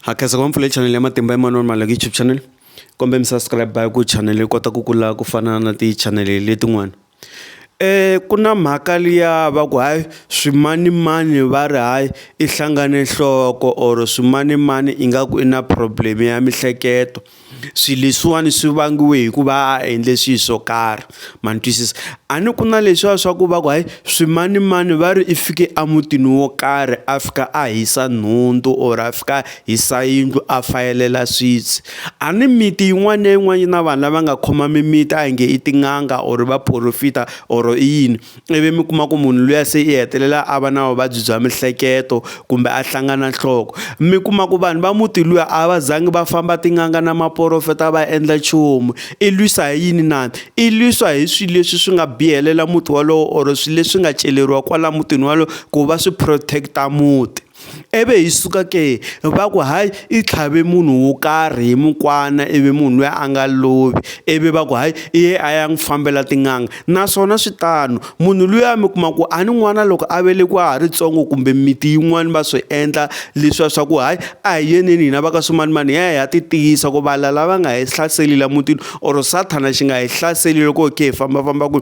Ha khensa ku va mpfula channel ya matimba Emmanuel Maluleke YouTube channel kombela mi subscribe hi ku channel yi kota ku kula ku fana na ti channel letin'wana ku na mhaka liya va ku hayi swimanimani va ri hayi i hlangane nhloko or swimanimani ingaku i na problem ya mihleketo swilo leswiwani swi vangiwe hikuva a a endle swilo swo karhi ma ni twisisa a ni ku na leswiya swa ku va ku hayi swimanimani va ri i fike emutini wo karhi a fika a hisa nhundzu or a fika a hisa yindlu a fayelela switsi a ni miti yin'wana na yin'wana yi na vanhu lava nga khoma mimiti a hi nge i tin'anga or vaporofita or i yini. ivi mi kuma ku munhu luya se i hetelela a va na vuvabyi bya mihleketo kumbe a hlangana nhloko mi kuma ku vanhu va muti luya a va zangi va famba tin'anga na maporofeta va endla nchumu i lwisa hi yini na i lwisa hi swilo leswi swi nga bihelela muti wolowo or swilo leswi nga celeriwa kwala mutini wolowo ku va swi protect-a muti. I vi hi suka ke va ku hayi i tlhave munhu wo karhi hi mukwana i vi munhu loyi a nga lovi i vi va ku hayi i ye a ya n'wi fambela tin'anga naswona swi tano munhu luya mi kuma ku a ni n'wana loko a velekiwa a ha ri ntsongo kumbe miti yin'wani va swi endla leswiya swa ku hayi a hi yeleni hina va ka swimanimani hi ya hi ya ti tiyisa ku va lava va nga hi hlaseli la mutini or sathana xi nga hi hlaseli loko hi kha hi fambafamba ku.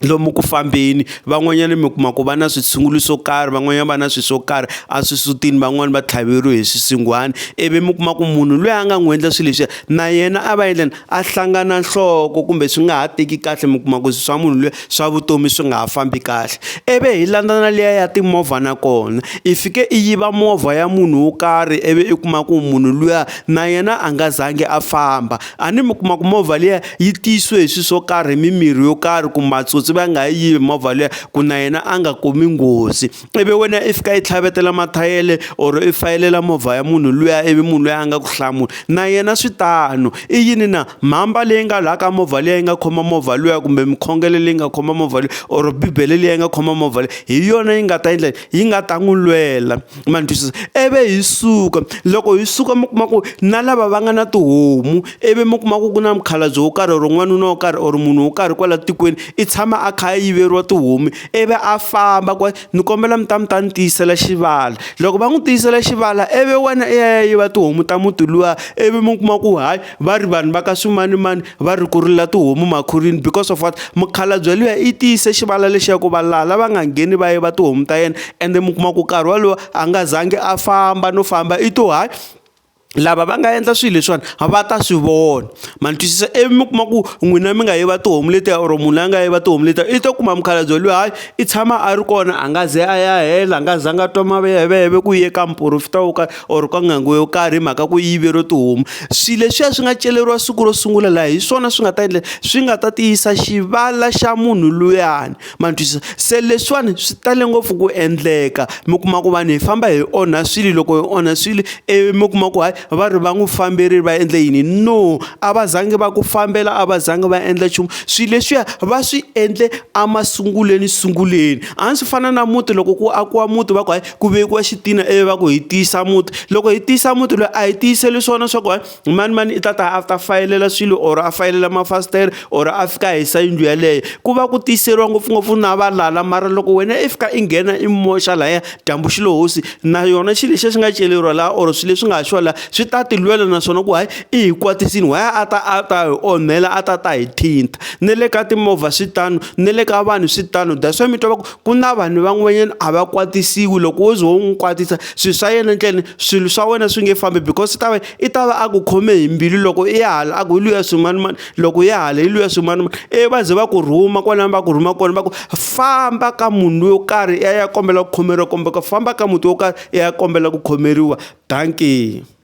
lomu ku fambeni van'wanyana mi kuma ku va na switshungulo swo karhi van'wanyana va na swilo swo karhi eswisutini van'wani va tlhaveriwe hi swisinghwana ivi mi kuma ku munhu loyi a nga n'wi endla swilo leswiya na yena a va endleni a hlangana nhloko kumbe swi nga ha teki kahle mi kuma ku swa munhu luya swa vutomi swi nga ha fambi kahle ivi hi landza na liya ya timovha na kona i fike i yiva movha ya munhu wo karhi ivi i kuma ku munhu luya na yena a nga zangi a famba a ni mi kuma ku movha liya yi tiyisiwe hi swilo swo karhi hi mimirhi yo karhi ku matsotsi va nga yi yivi movha liya ku na yena a nga kumi nghozi ivi wena i fika yi tlhavetela mathayele or i fayelela movha ya munhu luya ivi munhu loyi a nga ku hlamula na yena swi tano i yini na mhamba leyi nga laha ka movha liya yi nga khoma movha luya kumbe mikhongele leyi nga khoma movha leyi or bibele leyi nga khoma movha leyi hi yona yi nga ta endla yi nga ta n'wi lwela ma ni twisisa ivi hi suka loko hi suka mi kuma ku na lava va nga na tihomu ivi mi kuma ku ku na mukhalabye wo karhi or n'wanuna wo karhi or munhu wo karhi kwala tikweni i tshama a kha a yiveriwa tihomu ivi a famba ku ni kombela mi ta mi ta ni tiyisela xivala loko va n'wi tiyisela xivala ivi wena i ya ya yiva tihomu ta muti luwa ivi mi kuma ku hayi. va ri vanhu va ka swimanimani va ri ku rila tihomu makhurini because of what mukhalabye luya i tiyise xivala lexi ya ku va laha lava nga ngheni va yiva tihomu ta yena ende mi kuma ku nkarhi wolowo a nga zangi a famba no famba i to hayi lava va nga endla swilo leswiwani va ta swi vona ma ni twisisa ivi mi kuma ku n'wina mi nga yiva tihomu letiya or munhu la nga yiva tihomu letiya i to kuma mukhalabye loyi hayi i tshama a ri kona a nga ze a ya hela a nga zanga a twa maveveve ku ye ka muporofita wo karhi or ka n'anga yo karhi hi mhaka ku yiveriwe tihomu swi leswiya swi nga celeriwa siku ro sungula laha hi swona swi nga ta endla swi nga ta tiyisa xivala xa munhu luyani ma twisisa se leswiwani swi tale ngopfu ku endleka mi kuma ku vanhu hi famba hi onha swilo loko hi onha swilo ivi mi kuma ku hayi va ri va n'wi famberile va endle yini no a va zangi va ku fambela a va zangi va endla nchumu swilo leswiya va swi endle emasungulweni sunguleni a swi fana na muti loko ku akiwa muti va ku hayi. ku vekiwa xitina ivi va ku hi tiyisa muti loko hi tiyisa muti loyi a hi tiyiseli swona swa ku hayi mani mani i ta ta a ta fayelela swilo or a fayelela mafasitere or a fika a hisa yindlu yeleyo ku va ku tiyiseriwa ngopfungopfu na valala mara loko wena i fika i nghena i moxa lahaya dyambu xi lo hosi na yona xilo lexi xi nga celeriwa laha or swilo leswi nga ha xiwa laha swi ta ti lwela naswona ku hayi i hi kwatisini why a ta a ta hi onhela a ta ta hi thinta na le ka timovha swi tano na le ka vanhu swi tano that's why mi twa va ku ku na vanhu van'wanyana a va kwatisiwi loko wo ze wo n'wi kwatisa swilo swa yena endleni swilo swa wena swi nge fambi because swi ta va i ta va a ku khome hi mbilu loko i ya hala a ku hi luya swimanimani loko ya hala hi luya swimanimani ivi va ze va ku rhuma kwalano va ku rhuma kona va ku famba ka munhu yo karhi i ya i ya kombela ku khomeriwa kumbe ku famba ka muti wo karhi i ya kombela ku khomeriwa dankeni.